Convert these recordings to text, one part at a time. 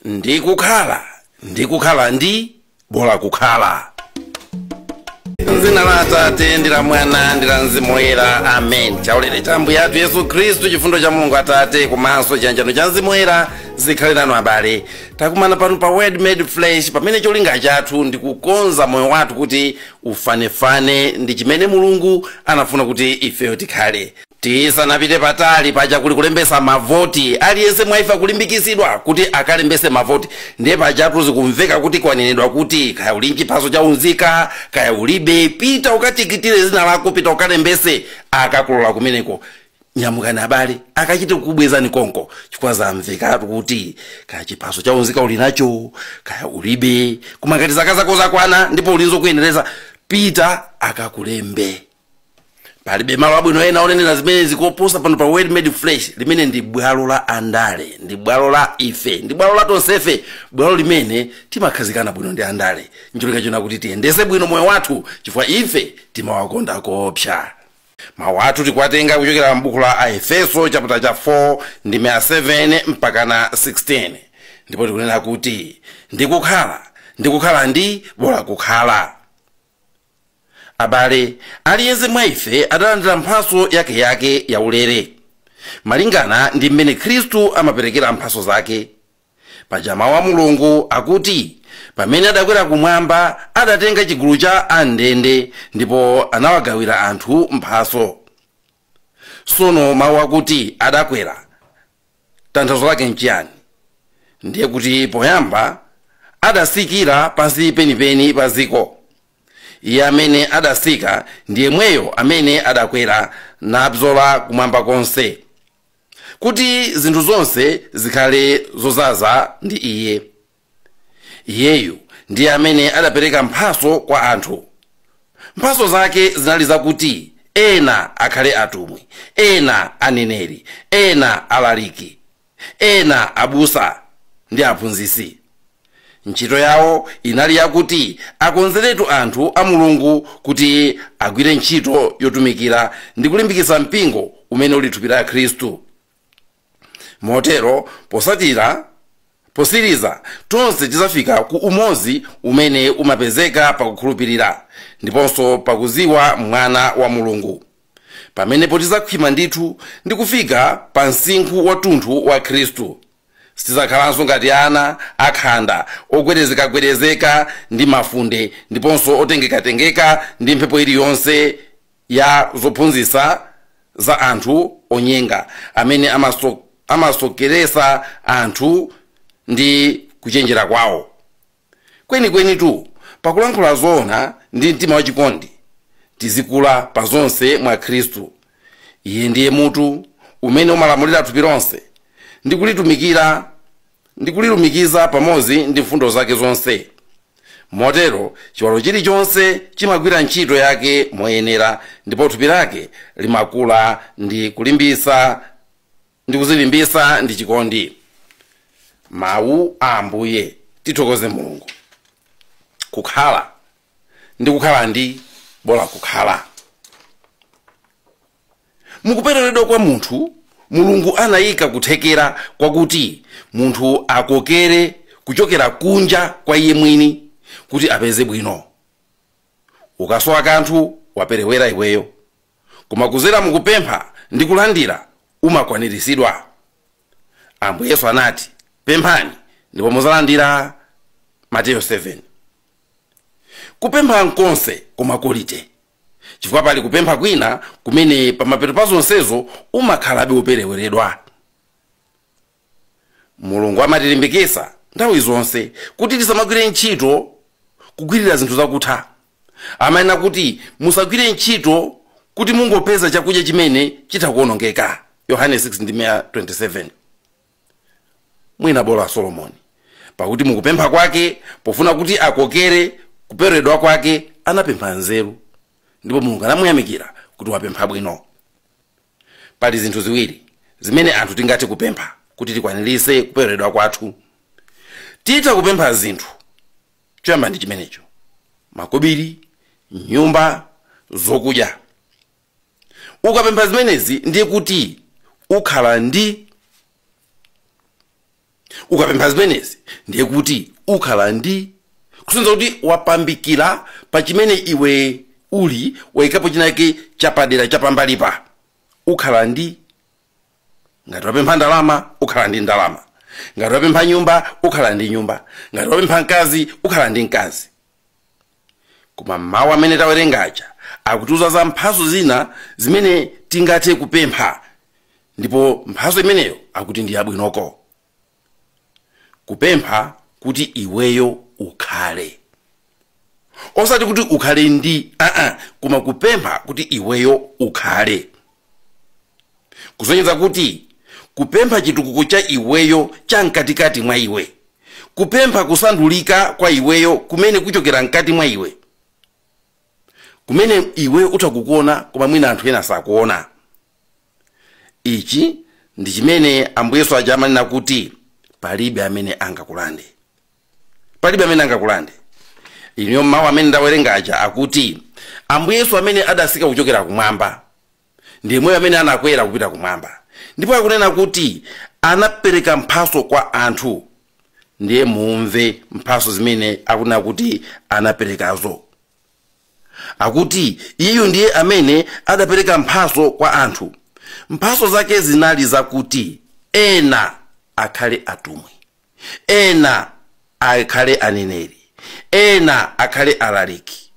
ndikukhala ndikukhala ndi bola kukhala mzina la atate ndi la mwana ndi la mzimu woyera amen chaulere cha ambuye athu yesu khristu chifundo cha mulungu atate komanso chiyanjano cha mzimu woyera zikhale nanu abale takumana pano pa word made flesh pamene cholinga chathu ndi kukonza moyo wathu kuti ufanefane ndi chimene mulungu anafuna kuti ifeyo tikhale Tisanapite patali, paja kuli kulembesa mavoti, aliyense mwa ife akulimbikitsidwa kuti akalembese mavoti. Ndiye pajatu zikumveka kuti kwanenedwa kuti, kaya uli n'chiphaso cha unzika, kaya ulibe, pita ukatikitire dzina lako, pita ukalembese, akakulola kumeneko. Nyamukani abale, akachite kukubwezani konko, chifukwa zamvekatu kuti kaya chiphaso cha unzika uli nacho, kaya ulibe, koma ngati zaka zako zakwana ndipo uli n'zokuyenereza, pita akakulembe. palibe malo abwino ena onenera zimenezi koposa pano pa word made flesh limene ndi bwalo la andale ndi bwalo la ife ndi bwalo la tonsefe bwalo limene timakhazikana bwino ndi andale ncholinga chonena kuti tiyendese bwino moyo wathu chifukwa ife timawakonda koopsa mawu athu tikuwatenga kuchokera m'buku la aefeso chaputala cha 4 ndime ya 7 mpakana 16 ndipo tikunena kuti ndikukhala ndikukhala ndi bola kukhala Abale, aliyense mwa ife adalandira mphatso yakeyake yaulere, malingana ndi m'mene Khristu amaperekera mphatso zake. Paja mau a Mulungu akuti, Pamene adakwera kumwamba, adatenga chigulu cha a m'ndende, ndipo anawagawira anthu mphatso. sono mawu akuti adakwera tanthauzo lake nchiyani ndiye kuti poyamba adasikira pansi penipeni pa dziko iye amene adasika ndi yemweyo amene adakwera nabzola kumwamba konse kuti zinthu zonse zikhale zozaza ndi iye iyeyu ndiye amene adapereka mphaso kwa anthu mphaso zake zinali zakuti ena akhale atumwi ena aneneri ena alaliki ena abusa ndi aphunzitsi ntchito yawo inali yakuti akonzeretu anthu a mulungu kuti agwire ntchito yotumikira ndi kulimbikitsa mpingo umene uli thupi la khristu motero posatira posiriza tonse tidzafika ku umodzi umene umapezeka pakukhulupirira ndiponso pakuziwa mwana wa mulungu pamenepo tidzakhwima ndithu ndi kufika pa msinkhu wathunthu wa khristu sitidzakhalanso ngati ana akhanda ogwedezekagwedezeka ndi mafunde ndiponso otengekatengeka ndi mphepo iliyonse ya zophunzitsa za anthu onyenga amene amasokeresa anthu ndi kuchenjera kwawo kwenikwenitu pakulankhula zoona ndi mtima wachikondi tizikula pa zonse mwa khristu iye ndiye mutu umene umalamulira thupi lonse ndi kulitumikira ndi kulilumikiza pamodzi ndi mfundo zake zonse motero chiwalo chilichonse chimagwira ntchito yake moyenera ndipo thupi lake limakula ndi kulimbisa ndi kuzilimbisa ndi chikondi mawu a ambuye tithokoze mulungu kukhala ndi kukhala ndi bola kukhala Mu kupereweredwa kwa munthu, Mulungu anaika kuthekera kwakuti munthu akokere kuchokera kunja kwa iye mwini kuti apeze bwino. Ukasowa kanthu, waperewera iweyo. Koma kuzera mu kupempha ndi kulandira, umakwaniritsidwa. Ambuye Yesu anati, Pemphani ndipo muzalandira, Mateyo 7. Kupempha n'konse koma kolite. chifukwa pali kupempha kwina kumene pamapeto pa zonsezo umakhalabe wopereweredwa mulungu amatilimbikitsa nthawi zonse kuti tisamagwire ntchito kugwirira zinthu zakutha amanena kuti musagwire ntchito kuti mungopeza chakudya chimene chitha kuonongeka yohane 6 ndime ya 27 mwina bola solomoni pakuti mukupempha kwake pofuna kuti akokere kupereweredwa kwake anapempha nzeru ndipo mulungu anamuyamikira kuti wapempha bwino pali zinthu ziwiri zimene anthu tingathe kupempha kuti tikwaniritse kupereweredwa kwathu titha kupempha zinthu choyamba ndi chimenecho makobiri nyumba zokudya ukapempha zimenezi ndiye kuti ukhala ndi kusonyeza kuti waphaphikira pa chimene iwe uli wayikapo chinake chapadera chapambali apa ukhala ndi ngati wapempha ndalama ukhala ndi ndalama ngati wapempha nyumba ukhala ndi nyumba ngati wapempha mkazi ukhala ndi mkazi koma mawu amene tawerenga aja akutiuza za mphatso zina zimene tingathe kupempha ndipo mphatso imeneyo akuti ndi yabwinoko kupempha kuti iweyo ukhale osati kuti ukhale ndi aa koma kupempha kuti iweyo ukhale kusonyeza kuti kupempha chitukuko cha iweyo cha mkatikati mwa iwe kupempha kusandulika kwa iweyo kumene kuchokera mkati mwa iwe kumene iweyo utha kukuona koma mwina anthu ena sakuona ichi ndi chimene ambuye yesu aja amanena kuti palibe amene angakulande palibe amene angakulande inuyo m'mawu amene ndawerenga aja akuti ambuye yesu amene adasika kuchokera kumwamba ndi yemweyo amene anakwera kupita kumwamba ndipo akunena kuti anapereka mphaso kwa anthu ndiye mumve mphaso zimene akunena kuti anaperekazo akuti iyeyo ndiye amene adapereka mphaso kwa anthu mphaso zake zinali zakuti ena akhale atumwi ena akhale aneneri ena akhale alaliki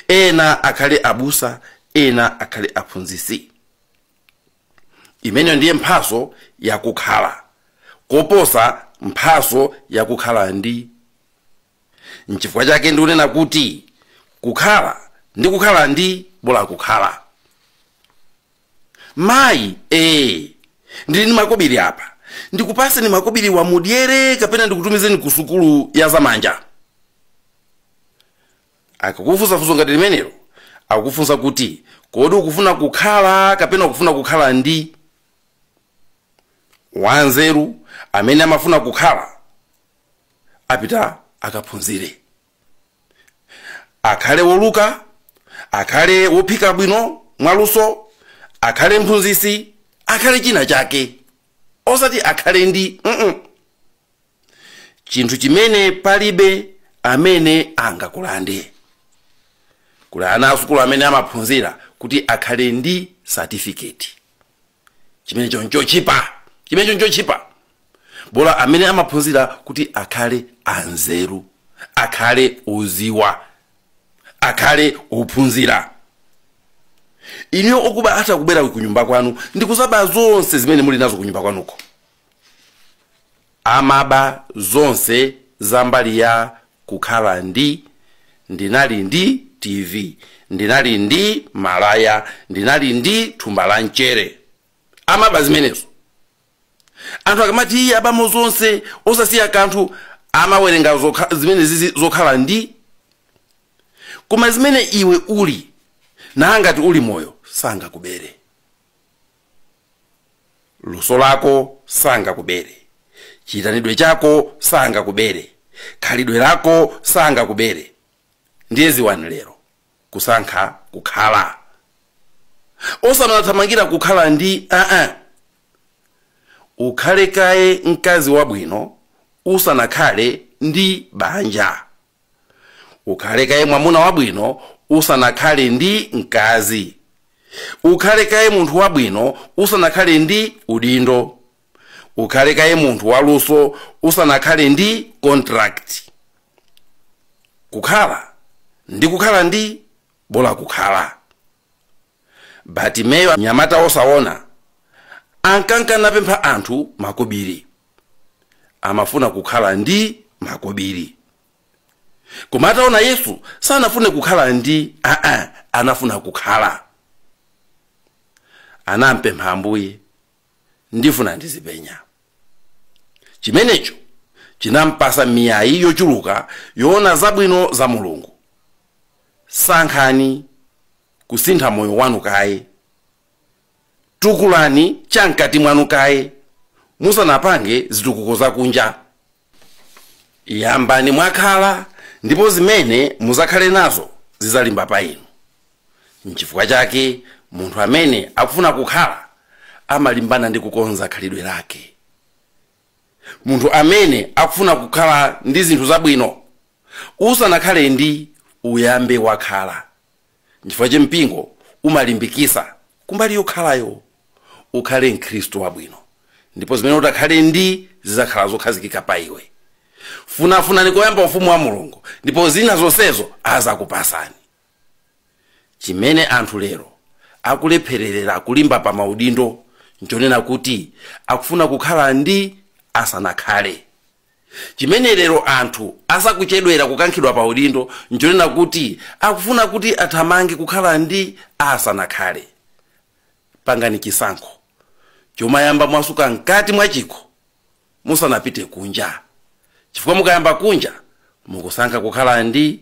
ena akhale abusa ena akhale aphunzitsi imeneyo ndiye mphaso yakukhala koposa mphaso yakukhala ndi nchifukwa chake ndikunena kuti kukhala ndi kukhala ndi bola kukhala mayi ee ndili ndi makobiri apa ndikupaseni makobiriwa mudyere kapena ndikutumizeni ku sukulu ya zamanja akakufunsa funso ngati limenelo akufunsa kuti kodi ukufuna kukhala kapena ukufuna kukhala ndi wanzeru amene amafuna kukhala apita akaphunzire akhale woluka akhale wophika bwino mwaluso akhale mphunzitsi akhale china chake osati akhale ndi mm -mm. chinthu chimene palibe amene angakulande kuli ana asukulu amene amaphunzira kuti akhale ndi satifiketi chimenecho nchochipa chimenecho nchochipa bola amene amaphunzira kuti akhale anzeru akhale oziwa akhale ophunzira inuyo okuba ati akubwera kunyumba kwanu ndikuzaba zonse zimene muli nazo kunyumba kwanuko amaba zonse za mbali ya kukhala ndi ndinali ndi tv ndinali ndi malaya ndinali ndi thumba la mchere amaba zimenezo anthu akamati iye abamo zonse osasiya kanthu amawerenga zokha- zimene zizi zokhala ndi koma zimene iwe uli nangati uli moyo sangakubere luso lako sangakubere chiitanidwe chako sangakubere khalidwe lako sangakubere ndiye ziwani lero kusankha kukhala osamathamangira kukhala ndi aa ukhale kaye mkazi wabwino usanakhale ndi banja ukhale kaye mwamuna wabwino usanakhale ndi mkazi ukhale kaye munthu wabwino usanakhale ndi udindo ukhale kaye munthu waluso usanakhale ndi contract kukhala ndi kukhala ndi bola kukhala Batimeyo, mnyamata wosaona, ankanka napempha anthu makobiri. Amafuna kukhala ndi makobiri. Koma ataona Yesu sanafune kukhala ndi aa, anafuna kukhala. Anampempha Ambuye, ndifuna ndizipenya. Chimenecho chinampasa miyayi yochuluka yoona zabwino za Mulungu. Sankhani. kusintha moyo wanu kaye tukulani cha mkati mwanu kaye musanapange zitukuko zakunja yambani mwakhala ndipo zimene mudzakhale nazo zidzalimba pa inu nchifukwa chake munthu amene akufuna kukhala amalimbana ndi kukonza khalidwe lake munthu amene akufuna kukhala ndi zinthu zabwino usanakhale ndi uyambe wakhala nchifukwa che mpingo umalimbikisa kumbali yokhalayo ukhale mkhristu wabwino ndipo zimene utakhale ndi zidzakhala zokhazikika pa iwe funafunani koyamba ufumu wa mulungu ndipo zina zonsezo azakupasani chimene anthu lero akulephererera kulimba pa maudindo nchonena kuti akufuna kukhala ndi asanakhale Chimene lero anthu asakuchedwera kukankhidwa pa udindo nchonena kuti akufuna kuti athamange kukhala ndi asanakhale. Pangani chisankho chomayamba mwasuka mkati mwa chikho musanapite kunja chifukwa mukayamba kunja mukusankha kukhala ndi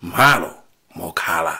mmalo mokhala.